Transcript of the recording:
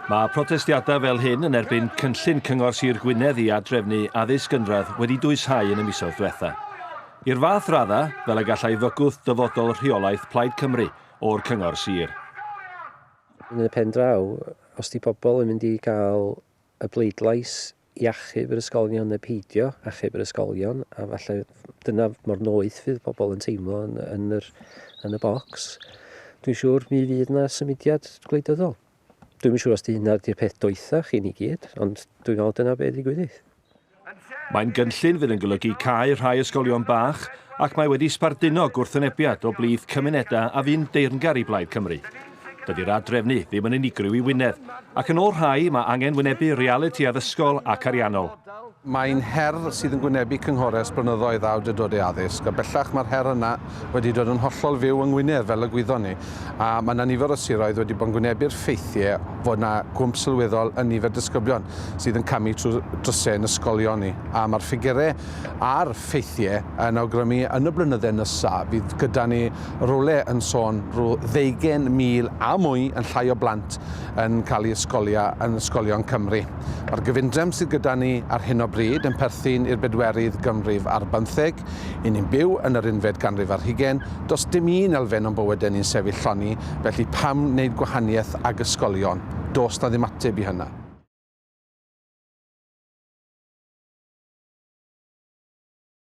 Mae protestiadau fel hyn yn erbyn cynllun Cyngor Sir Gwynedd i adrefnu addysg gynradd wedi dwyshau yn y misoedd diwetha. I'r fath raddau, fel y gallai fygwth dyfodol rheolaeth Plaid Cymru o'r Cyngor Sir. Yn y pen draw, os di pobl yn mynd i gael y bleidlais i achub yr ysgolion neu peidio achub yr ysgolion a falle dyna mor noeth fydd pobl yn teimlo yn, yn, yr, yn y bocs. Dwi'n siŵr mi fydd yna symudiad gwleidyddol. Dwi'n siŵr os di hynna di'r peth doethach i ni gyd, ond dwi'n meddwl dyna beth i gwyddydd. Mae'n gynllun fydd yn golygu cael rhai ysgolion bach ac mae wedi sbarduno gwrthwynebiad o blith cymunedau a fu'n deyrngar i Blaid Cymru. Dydy'r ad-drefnu ddim yn unigryw i Wynedd, ac yn ôl rhai, mae angen wynebu realiti addysgol ac ariannol. Mae'n her sydd yn gwynebu cynghorau ers blynyddoedd awdurdodau addysg, a bellach mae'r her yna wedi dod yn hollol fyw yng Ngwynedd, fel y gwyddon ni, a mae yna nifer o siroedd wedi bod yn gwynebu'r ffeithiau fod yna gwmp sylweddol yn nifer disgyblion sydd yn camu trwy drysau yn ysgolion ni, a mae'r ffigurau a'r ffeithiau yn awgrymu yn y blynydde nesa fydd gyda ni Rywle yn sôn rhyw ddeugain mil a mwy yn llai o blant yn cael ei ysgolia yn ysgolion Cymru. Mae'r gyfundrefn sydd gyda ni ar hyn o bryd yn perthyn i'r bedwerydd ganrif ar bymtheg. I ni'n byw yn yr unfed ganrif ar hugain, does dim un elfen o'n bywydau ni'n sefyll lloni, felly pam wneud gwahaniaeth ag ysgolion? Does 'na ddim ateb i hynna.